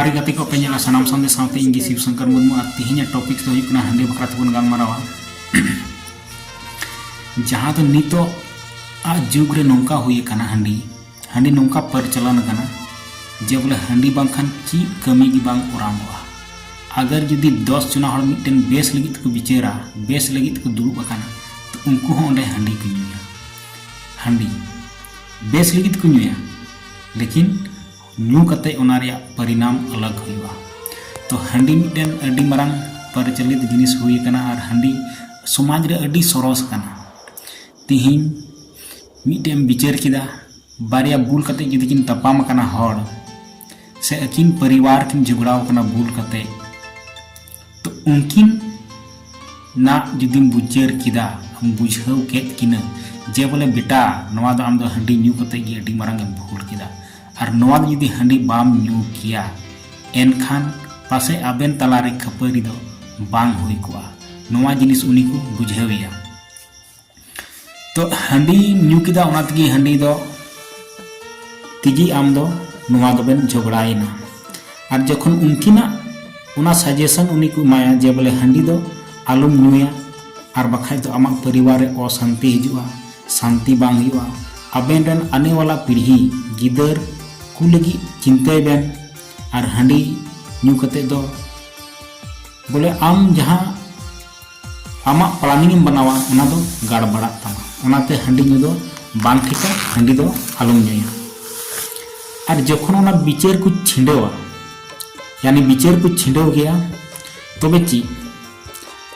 ᱟᱹᱰᱤ ᱜᱟᱛᱮ ᱠᱚ ᱯᱮ ᱧᱮᱞᱟ ᱥᱟᱱᱟᱢ ᱥᱟᱶᱛᱮ ᱥᱟᱶᱛᱮ ᱤᱧ ᱜᱮ ᱥᱤᱵ ᱥᱚᱝᱠᱚᱨ ᱢᱩᱨᱢᱩ ᱟᱨ ᱛᱮᱦᱮᱧ ᱟᱜ ᱴᱚᱯᱤᱠ ᱫᱚ ᱦᱩᱭᱩᱜ ᱠᱟᱱᱟ ᱦᱟᱺᱰᱤ ᱵᱟᱠᱷᱨᱟ ᱛᱮᱵᱚᱱ ᱜᱟᱞᱢᱟᱨᱟᱣᱟ ᱡᱟᱦᱟᱸ ᱫᱚ ᱱᱤᱛᱚᱜ ᱟᱜ ᱡᱩᱜᱽ ᱨᱮ ᱱᱚᱝᱠᱟ ᱦᱩᱭ ᱟᱠᱟᱱᱟ ᱦᱟᱺᱰᱤ ᱦᱟᱺᱰᱤ ᱱᱚᱝᱠᱟ ᱯᱟᱨᱪᱟᱞᱟᱱ ᱟᱠᱟᱱᱟ ᱡᱮ ᱵᱚᱞᱮ ᱦᱟᱺᱰᱤ ᱵᱟᱝᱠᱷᱟᱱ ᱪᱮᱫ ᱠᱟᱹᱢᱤ ᱜᱮ ᱵᱟᱝ ᱚᱨᱟᱢᱚᱜᱼᱟ ᱟᱜᱟᱨ ᱡᱩᱫᱤ ᱫᱚᱥ ᱡᱚᱱᱟ ᱦᱚᱲ ᱢᱤᱫᱴᱮᱱ ᱵᱮᱥ ᱞᱟᱹᱜᱤᱫ ᱛᱮᱠᱚ ᱵᱤᱪᱟᱹᱨᱟ ᱵᱮᱥ ᱞᱟᱹᱜᱤᱫ ᱛᱮᱠᱚ ᱫᱩᱲᱩᱵ ᱟᱠᱟᱱᱟ ᱛᱚ ᱩᱱᱠᱩ ᱦᱚᱸ ᱚᱸᱰᱮ ᱦᱟᱺᱰᱤ ᱠᱚ ᱧᱩᱭᱟ ᱦᱟᱺᱰᱤ ᱵᱮᱥ ᱞᱟᱹᱜᱤᱫ ᱠᱚ ᱧᱩᱭᱟ ᱞᱮᱠᱤᱱ ᱧᱩ ᱠᱟᱛᱮ ᱚᱱᱟ ᱨᱮᱭᱟᱜ ᱯᱚᱨᱤᱱᱟᱢ ᱟᱞᱟᱜ ᱦᱩᱭᱩᱜᱼᱟ ᱛᱚ ᱦᱟᱺᱰᱤ ᱢᱤᱫᱴᱮᱱ ᱟᱹᱰᱤ ᱢᱟᱨᱟᱝ ᱯᱟᱨᱪᱟᱞᱤᱛ ᱡᱤᱱᱤᱥ ᱦᱩᱭ ᱟᱠᱟᱱᱟ ᱟᱨ ᱦᱟᱺᱰᱤ ᱥᱚᱢᱟᱡᱽ ᱨᱮ ᱟᱹᱰᱤ ᱥᱚᱨᱚᱥ ᱠᱟᱱᱟ ᱛᱤᱦᱤᱧ ᱢᱤᱫᱴᱮᱱ ᱮᱢ ᱵᱤᱪᱟᱹᱨ ᱠᱮᱫᱟ ᱵᱟᱨᱭᱟ ᱵᱩᱞ ᱠᱟᱛᱮ ᱡᱩᱫᱤ ᱠᱤᱱ ᱛᱟᱯᱟᱢ ᱟᱠᱟᱱᱟ ᱦᱚᱲ ᱥᱮ ᱟᱹᱠᱤᱱ ᱯᱚᱨᱤᱵᱟᱨ ᱠᱤᱱ ᱡᱷᱚᱜᱽᱲᱟᱣ ᱟᱠᱟᱱᱟ ᱵᱩᱞ ᱠᱟᱛᱮ ᱛᱚ ᱩᱱᱠᱤᱱ ᱱᱟᱜ ᱡᱩᱫᱤᱢ ᱵᱩᱡᱟᱹᱨ ᱠᱮᱫᱟ ᱵᱩᱡᱷᱟᱹᱣ ᱠᱮᱫ ᱠᱤᱱᱟᱹ ᱡᱮ ᱵᱚᱞᱮ ᱵᱮᱴᱟ ᱱᱚᱣᱟ ᱫᱚ ᱟᱢ ᱫᱚ ᱦᱟᱺᱰᱤ ᱧᱩ ᱠᱟᱛᱮ ᱜᱮ ᱟᱹᱰᱤ ᱢᱟᱨᱟᱝ ᱮᱢ ᱵᱷᱩᱞ ᱠᱮᱫᱟ ᱟᱨ ᱱᱚᱣᱟ ᱫᱚ ᱡᱩᱫᱤ ᱦᱟᱺᱰᱤ ᱵᱟᱢ ᱧᱩ ᱠᱮᱭᱟ ᱮᱱᱠᱷᱟᱱ ᱯᱟᱥᱮ ᱟᱵᱮᱱ ᱛᱟᱞᱟᱨᱮ ᱠᱷᱟᱹᱯᱟᱹᱨᱤ ᱫᱚ ᱵᱟᱝ ᱦᱩᱭ ᱠᱚᱜᱼᱟ ᱱᱚᱣᱟ ᱡᱤᱱᱤᱥ ᱩᱱᱤ ᱠᱚ ᱵᱩᱡᱷᱟᱹᱣᱮᱭᱟ ᱛᱚ ᱦᱟᱺᱰᱤ ᱧᱩ ᱠᱮᱫᱟ ᱚᱱᱟ ᱛᱮᱜᱮ ᱦᱟᱺᱰᱤ ᱫᱚ ᱛᱮᱜᱮ ᱟᱢ ᱫᱚ ᱱᱚᱣᱟ ᱫᱚᱵᱮᱱ ᱡᱷᱚᱜᱽᱲᱟᱭᱮᱱᱟ ᱟᱨ ᱡᱚᱠᱷᱚᱱ ᱩᱱᱠᱤᱱᱟᱜ ᱚᱱᱟ ᱥᱟᱡᱮᱥᱚᱱ ᱩᱱᱤ ᱠᱚ ᱮᱢᱟᱭᱟ ᱡᱮ ᱵᱚᱞᱮ ᱦᱟᱺᱰᱤ ᱫᱚ ᱟᱞᱚᱢ ᱧᱩᱭᱟ ᱟᱨ ᱵᱟᱠᱷᱟᱡ ᱫᱚ ᱟᱢᱟᱜ ᱯᱚᱨᱤᱵᱟᱨ ᱨᱮ ᱚᱥᱟᱱᱛᱤ ᱦᱤᱡᱩᱜᱼᱟ ᱥᱟᱱᱛᱤ ᱵᱟᱝ ᱦᱩᱭᱩᱜᱼᱟ ᱟᱵᱮᱱ ᱨᱮᱱ ᱟᱱᱮ ᱣᱟᱞᱟ ᱯᱤᱲᱦᱤ ᱜᱤᱫᱟᱹᱨ ᱠᱚ ᱞᱟᱹᱜᱤᱫ ᱪᱤᱱᱛᱟᱹᱭ ᱵᱮᱱ ᱟᱨ ᱦᱟᱺᱰᱤ ᱧᱩ ᱠᱟᱛᱮ ᱫᱚ ᱵᱚᱞᱮ ᱟᱢ ᱡᱟᱦᱟᱸ ᱟᱢᱟᱜ ᱯᱞᱟᱱᱤᱝ ᱮᱢ ᱵᱟᱱᱟᱣᱟ ᱚᱱᱟ ᱫᱚ ᱜᱟᱲᱵᱟᱲᱟᱜ ᱛᱟᱢᱟ ᱚᱱᱟᱛᱮ ᱦᱟᱺᱰᱤ ᱧᱩ ᱫᱚ ᱵᱟᱝ ᱴᱷᱤᱠᱟ ᱦᱟᱺᱰᱤ ᱫᱚ ᱟᱞᱚᱢ ᱧᱩᱭᱟ ᱟᱨ ᱡᱚᱠᱷᱚᱱ ᱚᱱᱟ ᱵᱤᱪᱟᱹᱨ ᱠᱚ ᱪᱷᱤᱸᱰᱟᱹᱣᱟ ᱭᱟᱱᱤ ᱵᱤᱪᱟᱹᱨ ᱠᱚ ᱪᱷᱤᱸᱰᱟᱹᱣ ᱜᱮᱭᱟ ᱛᱚᱵᱮ ᱪᱮᱫ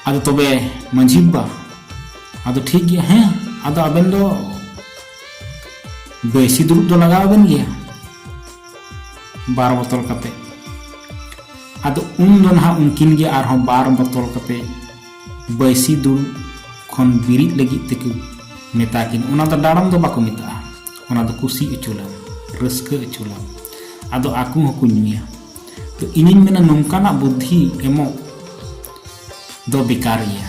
ᱟᱫᱚ ᱛᱚᱵᱮ ᱢᱟᱺᱡᱷᱤ ᱵᱟᱵᱟ ᱟᱫᱚ ᱴᱷᱤᱠ ᱜᱮᱭᱟ ᱦᱮᱸ ᱟᱫᱚ ᱟᱵᱮᱱ ᱫᱚ ᱵᱮᱥᱤ ᱫᱩᱲᱩᱵ ᱫᱚ ᱞᱟᱜᱟᱣ ᱟᱵᱮᱱ ᱜᱮᱭᱟ ᱵᱟᱨ ᱵᱚᱛᱚᱞ ᱠᱟᱛᱮ ᱟᱫᱚ ᱩᱱ ᱫᱚ ᱱᱟᱦᱟᱜ ᱩᱱᱠᱤᱱ ᱜᱮ ᱟᱨᱦᱚᱸ ᱵᱟᱨ ᱵᱚᱛᱚᱞ ᱠᱟᱛᱮ ᱵᱟᱹᱭᱥᱤ ᱫᱩᱲᱩᱵ ᱠᱷᱚᱱ ᱵᱤᱨᱤᱫ ᱞᱟᱹᱜᱤᱫ ᱛᱮᱠᱚ ᱢᱮᱛᱟ ᱠᱤᱱ ᱚᱱᱟ ᱫᱚ ᱰᱟᱲᱚᱢ ᱫᱚ ᱵᱟᱠᱚ ᱢᱮᱛᱟᱜᱼᱟ ᱚᱱᱟ ᱫᱚ ᱠᱩᱥᱤ ᱚᱪᱚᱞᱟ ᱨᱟᱹᱥᱠᱟᱹ ᱚᱪᱚᱞᱟ ᱟᱫᱚ ᱟᱠᱚ ᱦᱚᱸᱠᱚ ᱧᱩᱭᱟ ᱛᱚ ᱤᱧᱤᱧ ᱢᱮᱱᱟ ᱱᱚᱝᱠᱟᱱᱟᱜ ᱵᱩᱫᱽᱫᱷᱤ ᱮᱢᱚᱜ ᱫᱚ ᱵᱮᱠᱟᱨ ᱜᱮᱭᱟ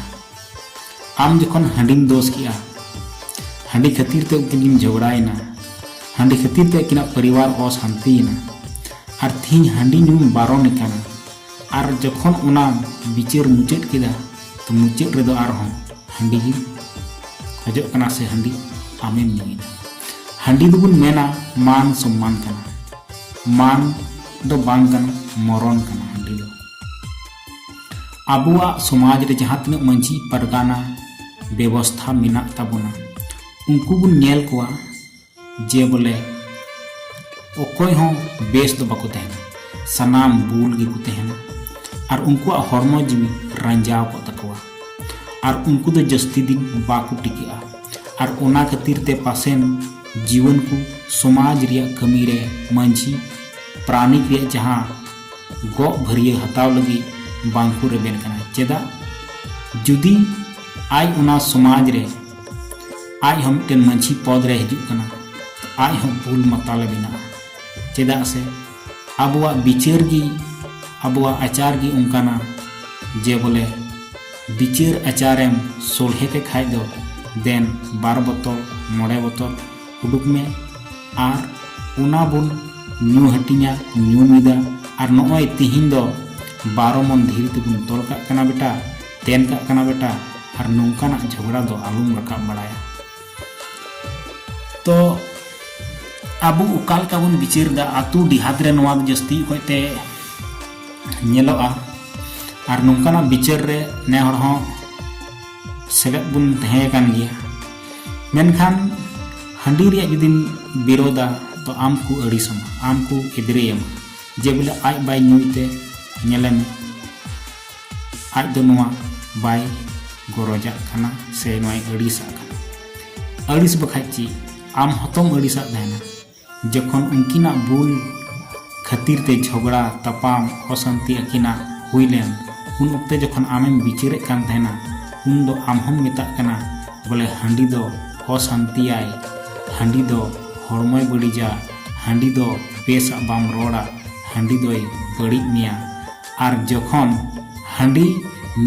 ᱟᱢ ᱡᱚᱠᱷᱚᱱ ᱦᱟᱺᱰᱤᱢ ᱫᱳᱥ ᱠᱮᱜᱼᱟ ᱦᱟᱺᱰᱤ ᱠᱷᱟᱹᱛᱤᱨ ᱛᱮ ᱩᱱᱠᱤᱱ ᱠᱤᱱ ᱡᱷᱚᱜᱽᱲᱟᱭᱮᱱᱟ ᱦᱟᱺᱰᱤ ᱠᱷᱟᱹᱛᱤᱨ ᱛᱮ ᱟᱹᱠᱤᱱᱟᱜ ᱯᱚᱨᱤᱵᱟᱨ ᱚᱥᱟᱱᱛᱤᱭᱮᱱᱟ ᱟᱨ ᱛᱤᱦᱤᱧ ᱦᱟᱺᱰᱤ ᱧᱩᱢ ᱵᱟᱨᱚᱱ ᱟᱠᱟᱱᱟ ᱟᱨ ᱡᱚᱠᱷᱚᱱ ᱚᱱᱟ ᱵᱤᱪᱟᱹᱨ ᱢᱩᱪᱟᱹᱫ ᱠᱮᱫᱟ ᱛᱚ ᱢᱩᱪᱟᱹᱫ ᱨᱮᱫᱚ ᱟᱨᱦᱚᱸ ᱦᱟᱺᱰᱤ ᱜᱮ ᱠᱷᱚᱡᱚᱜ ᱠᱟᱱᱟ ᱥᱮ ᱦᱟᱺᱰᱤ ᱟᱢᱮᱢ ᱧᱩᱭᱮᱫᱟ ᱦᱟᱺᱰᱤ ᱫᱚᱵᱚᱱ ᱢᱮᱱᱟ ᱢᱟᱱ ᱥᱚᱢᱢᱟᱱ ᱠᱟᱱᱟ ᱢᱟᱱ ᱫᱚ ᱵᱟᱝ ᱠᱟᱱᱟ ᱢᱚᱨᱚᱱ ᱠᱟᱱᱟ ᱦᱟᱺᱰᱤ ᱫᱚ ᱟᱵᱚᱣᱟᱜ ᱥᱚᱢᱟᱡᱽ ᱨᱮ ᱡᱟᱦᱟᱸ ᱛᱤᱱᱟᱹᱜ ᱢᱟᱹᱡᱷᱤ ᱯᱟᱨᱜᱟᱱᱟ ᱵᱮᱵᱚᱥᱛᱷᱟ ᱢᱮᱱᱟᱜ ᱛᱟᱵᱚᱱᱟ ᱩᱱᱠᱩ ᱵᱚᱱ ᱧᱮᱞ ᱠᱚᱣᱟ ᱡᱮ ᱵᱚᱞᱮ ᱚᱠᱚᱭ ᱦᱚᱸ ᱵᱮᱥ ᱫᱚ ᱵᱟᱠᱚ ᱛᱟᱦᱮᱱᱟ ᱥᱟᱱᱟᱢ ᱵᱩᱞ ᱜᱮᱠᱚ ᱛᱟᱦᱮᱱᱟ ᱟᱨ ᱩᱱᱠᱩᱣᱟᱜ ᱦᱚᱲᱢᱚ ᱡᱤᱣᱤ ᱨᱟᱸᱡᱟᱣ ᱠᱚᱜ ᱛᱟᱠᱚᱣᱟ ᱟᱨ ᱩᱱᱠᱩ ᱫᱚ ᱡᱟᱹᱥᱛᱤ ᱫᱤᱱ ᱵᱟᱠᱚ ᱴᱤᱠᱟᱹᱜᱼᱟ ᱟᱨ ᱚᱱᱟ ᱠᱷᱟᱹᱛᱤᱨ ᱛᱮ ᱯᱟᱥᱮᱱ ᱡᱤᱣᱟᱹᱱ ᱠᱚ ᱥᱚᱢᱟᱡᱽ ᱨᱮᱭᱟᱜ ᱠᱟᱹᱢᱤ ᱨᱮ ᱢᱟᱹᱡᱷᱤ ᱯᱨᱟᱱᱤᱠ ᱨᱮᱭᱟᱜ ᱡᱟᱦᱟᱸ ᱜᱚᱜ ᱵᱷᱟᱹᱨᱭᱟᱹ ᱦᱟᱛᱟᱣ ᱞᱟᱹᱜᱤᱫ ᱵᱟᱝ ᱠᱚ ᱨᱮᱵᱮᱱ ᱠᱟᱱᱟ ᱪᱮᱫᱟᱜ ᱡᱩᱫᱤ ᱟᱡ ᱚᱱᱟ ᱥᱚᱢᱟᱡᱽ ᱨᱮ ᱟᱡ ᱦᱚᱸ ᱢᱤᱫᱴᱮᱱ ᱢᱟᱹᱡᱷᱤ ᱯᱚᱫ ᱨᱮ ᱦᱤᱡᱩᱜ ᱠᱟᱱᱟ ᱟᱡ ᱦᱚᱸ ᱵᱩᱞ ᱢᱟᱛᱟᱞᱮ ᱵᱮᱱᱟᱜᱼᱟ ᱪᱮᱫᱟᱜ ᱥᱮ ᱟᱵᱚᱣᱟᱜ ᱵᱤᱪᱟᱹᱨ ᱜᱮ ᱟᱵᱚᱣᱟᱜ ᱟᱪᱟᱨ ᱜᱮ ᱚᱱᱠᱟᱱᱟ ᱡᱮ ᱵᱚᱞᱮ ᱵᱤᱪᱟᱹᱨ ᱟᱪᱟᱨᱮᱢ ᱥᱚᱞᱦᱮ ᱠᱮ ᱠᱷᱟᱡ ᱫᱚ ᱫᱮᱱ ᱵᱟᱨ ᱵᱚᱛᱚᱨ ᱢᱚᱬᱮ ᱵᱚᱛᱚᱨ ᱩᱰᱩᱠ ᱢᱮ ᱟᱨ ᱚᱱᱟ ᱵᱚᱱ ᱧᱩ ᱦᱟᱹᱴᱤᱧᱟ ᱧᱩ ᱢᱤᱫᱟ ᱟᱨ ᱱᱚᱜᱼᱚᱭ ᱛᱤᱦᱤᱧ ᱫᱚ ᱵᱟᱨᱚ ᱢᱚᱱ ᱫᱷᱤᱨᱤ ᱛᱮᱵᱚᱱ ᱛᱚᱞ ᱠᱟᱜ ᱠᱟᱱᱟ ᱵᱮᱴᱟ ᱛᱮᱱ ᱠᱟᱜ ᱠᱟᱱᱟ ᱵᱮᱴᱟ ᱟᱨ ᱱᱚᱝᱠᱟᱱᱟᱜ ᱡᱷᱚᱜᱽᱲᱟ ᱫᱚ ᱟᱞᱚᱢ ᱨᱟᱠᱟᱵ ᱵᱟᱲᱟᱭᱟ ᱛᱚ ᱟᱵᱚ ᱚᱠᱟ ᱞᱮᱠᱟ ᱵᱚᱱ ᱵᱤᱪᱟᱹᱨ ᱫᱟ ᱟᱛᱳ ᱰᱤᱦᱟᱛ ᱨᱮ ᱱᱚᱣᱟ ᱫᱚ ᱡᱟᱹᱥᱛᱤ ᱚᱠᱚᱡ ᱛᱮ ᱧᱮᱞᱚᱜᱼᱟ ᱟᱨ ᱱᱚᱝᱠᱟᱱᱟᱜ ᱵᱤᱪᱟᱹᱨ ᱨᱮ ᱱᱮ ᱦᱚᱲ ᱦᱚᱸ ᱥᱮᱞᱮᱫ ᱵᱚᱱ ᱛᱟᱦᱮᱸ ᱠᱟᱱ ᱜᱮᱭᱟ ᱢᱮᱱᱠᱷᱟᱱ ᱦᱟᱺᱰᱤ ᱨᱮᱭᱟᱜ ᱡᱩᱫᱤᱢ ᱵᱤᱨᱳᱫᱟ ᱛᱚ ᱟᱢ ᱠᱚ ᱟᱹᱲᱤᱥᱟᱢᱟ ᱟᱢ ᱠᱚ ᱮᱫᱽᱨᱮᱭᱟᱢᱟ ᱡᱮ ᱵᱚᱞᱮ ᱟᱡ ᱵᱟᱭ ᱧᱩᱭᱛᱮ ᱧᱮᱞᱮ ᱢᱮ ᱟᱡ ᱫᱚ ᱱᱚᱣᱟ ᱵᱟᱭ ᱜᱚᱨᱚᱡᱟᱜ ᱠᱟᱱᱟ ᱥᱮ ᱱᱚᱣᱟᱭ ᱟᱹᱲᱤᱥᱟᱜ ᱠᱟᱱᱟ ᱟᱹᱲᱤᱥ ᱵᱟᱠᱷᱟᱡ ᱪᱮᱫ ᱟᱢ ᱦᱚᱛᱚᱢ ᱟᱹᱲᱤᱥᱟᱜ ᱛᱟᱦᱮᱱᱟ ᱡᱚᱠᱷᱚᱱ ᱩᱱᱠᱤᱱᱟᱜ ᱵᱩᱞ ᱠᱷᱟᱹᱛᱤᱨ ᱛᱮ ᱡᱷᱚᱜᱽᱲᱟ, ᱛᱟᱯᱟᱢ, ᱚᱥᱟᱱᱛᱤ ᱟᱹᱠᱤᱱᱟᱜ ᱦᱩᱭ ᱞᱮᱱ, ᱩᱱ ᱚᱠᱛᱮ ᱡᱚᱠᱷᱚᱱ ᱟᱢᱮᱢ ᱵᱤᱪᱟᱹᱨᱮᱫ ᱠᱟᱱ ᱛᱟᱦᱮᱸᱱᱟ, ᱩᱱ ᱫᱚ ᱟᱢ ᱦᱚᱸᱢ ᱢᱮᱛᱟᱜ ᱠᱟᱱᱟ ᱵᱚᱞᱮ ᱦᱟᱺᱰᱤ ᱫᱚ ᱚᱥᱟᱱᱛᱤᱭᱟᱭ, ᱦᱟᱺᱰᱤ ᱫᱚ ᱦᱚᱲᱢᱚᱭ ᱵᱟᱹᱲᱤᱡᱟ, ᱦᱟᱺᱰᱤ ᱫᱚ ᱵᱮᱥ ᱟᱜ ᱵᱟᱢ ᱨᱚᱲᱟ, ᱦᱟᱺᱰᱤ ᱫᱚᱭ ᱵᱟᱹᱲᱤᱡ ᱢᱮᱭᱟ᱾ ᱟᱨ ᱡᱚᱠᱷᱚᱱ ᱦᱟᱺᱰᱤ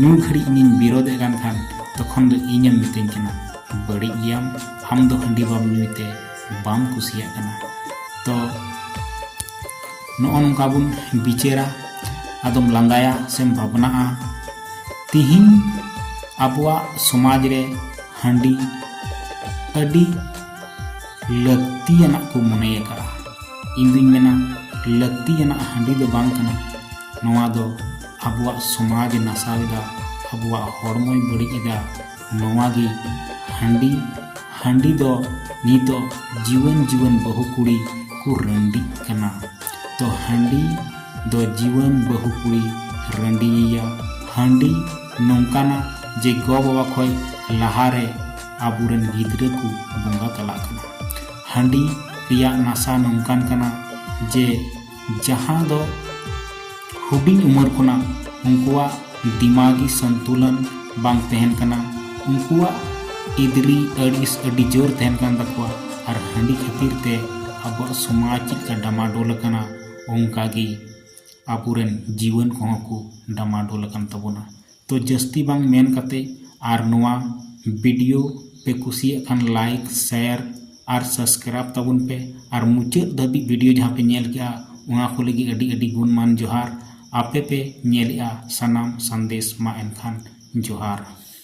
ᱧᱩ ᱜᱷᱟᱹᱲᱤᱡ ᱤᱧᱤᱧ ᱵᱤᱨᱚᱫᱷᱮᱫ ᱠᱟᱱ ᱠᱷᱟᱱ ᱛᱚᱠᱷᱚᱱ ᱫᱚ ᱤᱧᱮᱢ ᱢᱤᱛᱟᱹᱧ ᱠᱟᱱᱟ ᱵᱟᱹᱲᱤᱡ ᱜᱮᱭᱟᱢ, ᱟᱢ ᱫᱚ ᱦᱟᱺᱰᱤ ᱵᱟᱢ ᱧᱩᱭ ᱛᱮ᱾ ᱵᱟᱢ ᱠᱩᱥᱤᱭᱟᱜ ᱠᱟᱱᱟ ᱛᱚ ᱱᱚᱜᱼᱚ ᱱᱚᱝᱠᱟ ᱵᱚᱱ ᱵᱤᱪᱟᱹᱨᱟ ᱟᱫᱚᱢ ᱞᱟᱸᱫᱟᱭᱟ ᱥᱮᱢ ᱵᱷᱟᱵᱽᱱᱟᱜᱼᱟ ᱛᱤᱦᱤᱧ ᱟᱵᱚᱣᱟᱜ ᱥᱚᱢᱟᱡᱽ ᱨᱮ ᱦᱟᱺᱰᱤ ᱟᱹᱰᱤ ᱞᱟᱹᱠᱛᱤᱭᱟᱱᱟᱜ ᱠᱚ ᱢᱚᱱᱮ ᱟᱠᱟᱫᱼᱟ ᱤᱧ ᱫᱩᱧ ᱢᱮᱱᱟ ᱞᱟᱹᱠᱛᱤᱭᱟᱱᱟᱜ ᱦᱟᱺᱰᱤ ᱫᱚ ᱵᱟᱝ ᱠᱟᱱᱟ ᱱᱚᱣᱟ ᱫᱚ ᱟᱵᱚᱣᱟᱜ ᱥᱚᱢᱟᱡᱽ ᱱᱟᱥᱟᱣ ᱮᱫᱟ ᱟᱵᱚᱣᱟᱜ ᱦᱚᱲᱢᱚᱭ ᱵᱟᱹᱲᱤᱡ ᱮᱫᱟ ᱱᱚᱣᱟ ᱜᱮ ᱦᱟᱺᱰᱤ ᱦᱟᱺᱰᱤ ᱫᱚ ᱱᱤᱛᱚᱜ ᱡᱩᱣᱟᱹᱱ ᱡᱩᱣᱟᱹᱱ ᱵᱟᱹᱦᱩ ᱠᱩᱲᱤ ᱠᱚ ᱨᱟᱺᱰᱤᱜ ᱠᱟᱱᱟ ᱛᱚ ᱦᱟᱺᱰᱤ ᱫᱚ ᱡᱩᱣᱟᱹᱱ ᱵᱟᱹᱦᱩ ᱠᱩᱲᱤ ᱨᱟᱺᱰᱤᱭᱮᱭᱟ ᱦᱟᱺᱰᱤ ᱱᱚᱝᱠᱟᱱᱟ ᱡᱮ ᱜᱚ ᱵᱟᱵᱟ ᱠᱷᱚᱱ ᱞᱟᱦᱟᱨᱮ ᱟᱵᱚᱨᱮᱱ ᱜᱤᱫᱽᱨᱟᱹ ᱠᱚ ᱵᱚᱸᱜᱟ ᱛᱟᱞᱟᱜ ᱠᱟᱱᱟ ᱦᱟᱺᱰᱤ ᱨᱮᱭᱟᱜ ᱱᱟᱥᱟ ᱱᱚᱝᱠᱟᱱ ᱠᱟᱱᱟ ᱡᱮ ᱡᱟᱦᱟᱸ ᱫᱚ ᱦᱩᱰᱤᱧ ᱩᱢᱮᱨ ᱠᱷᱚᱱᱟᱜ ᱩᱱᱠᱩᱣᱟᱜ ᱫᱤᱢᱟᱜᱤ ᱥᱚᱱᱛᱩᱞᱚᱱ ᱵᱟᱝ ᱛᱟᱦᱮᱱ ᱠᱟᱱᱟ ᱩᱱᱠᱩᱣᱟᱜ ᱤᱫᱽᱨᱤ ᱟᱹᱲᱤᱥ ᱟᱹᱰᱤ ᱡᱳᱨ ᱛᱟᱦᱮᱱ ᱠᱟᱱ ᱛᱟᱠᱚᱣᱟ ᱟᱨ ᱦᱟᱺᱰᱤ ᱠᱷᱟᱹᱛᱤᱨ ᱛᱮ ᱟᱵᱚᱣᱟᱜ ᱥᱚᱢᱟᱡᱽ ᱪᱮᱫ ᱞᱮᱠᱟ ᱰᱟᱢᱟᱰᱳᱞ ᱟᱠᱟᱱᱟ ᱚᱱᱠᱟ ᱜᱮ ᱟᱵᱚ ᱨᱮᱱ ᱡᱤᱭᱚᱱ ᱠᱚᱦᱚᱸ ᱠᱚ ᱰᱟᱢᱟᱰᱳᱞ ᱟᱠᱟᱱ ᱛᱟᱵᱚᱱᱟ ᱛᱚ ᱡᱟᱹᱥᱛᱤ ᱵᱟᱝ ᱢᱮᱱ ᱠᱟᱛᱮ ᱟᱨ ᱱᱚᱣᱟ ᱵᱤᱰᱤᱭᱳ ᱯᱮ ᱠᱩᱥᱤᱭᱟᱜ ᱠᱷᱟᱱ ᱞᱟᱭᱤᱠ ᱥᱮᱭᱟᱨ ᱟᱨ ᱥᱟᱥᱠᱨᱟᱭᱤᱵᱽ ᱛᱟᱵᱚᱱ ᱯᱮ ᱟᱨ ᱢᱩᱪᱟᱹᱫ ᱫᱷᱟᱹᱵᱤᱡ ᱵᱤᱰᱤᱭᱳ ᱡᱟᱦᱟᱸ ᱯᱮ ᱧᱮᱞ ᱠᱮᱜᱼᱟ ᱚᱱᱟ ᱠᱚ ᱞᱟᱹᱜᱤᱫ ᱟᱹᱰᱤ ᱟᱹᱰᱤ ᱜᱩᱱᱢᱟᱱ ᱡᱚᱦᱟᱨ ᱟᱯᱮ ᱯᱮ ᱧᱮᱞᱮᱜᱼᱟ ᱥᱟᱱᱟᱢ ᱥᱟᱸᱫᱮᱥ ᱢᱟ ᱮᱱᱠᱷᱟᱱ ᱡᱚᱦᱟᱨ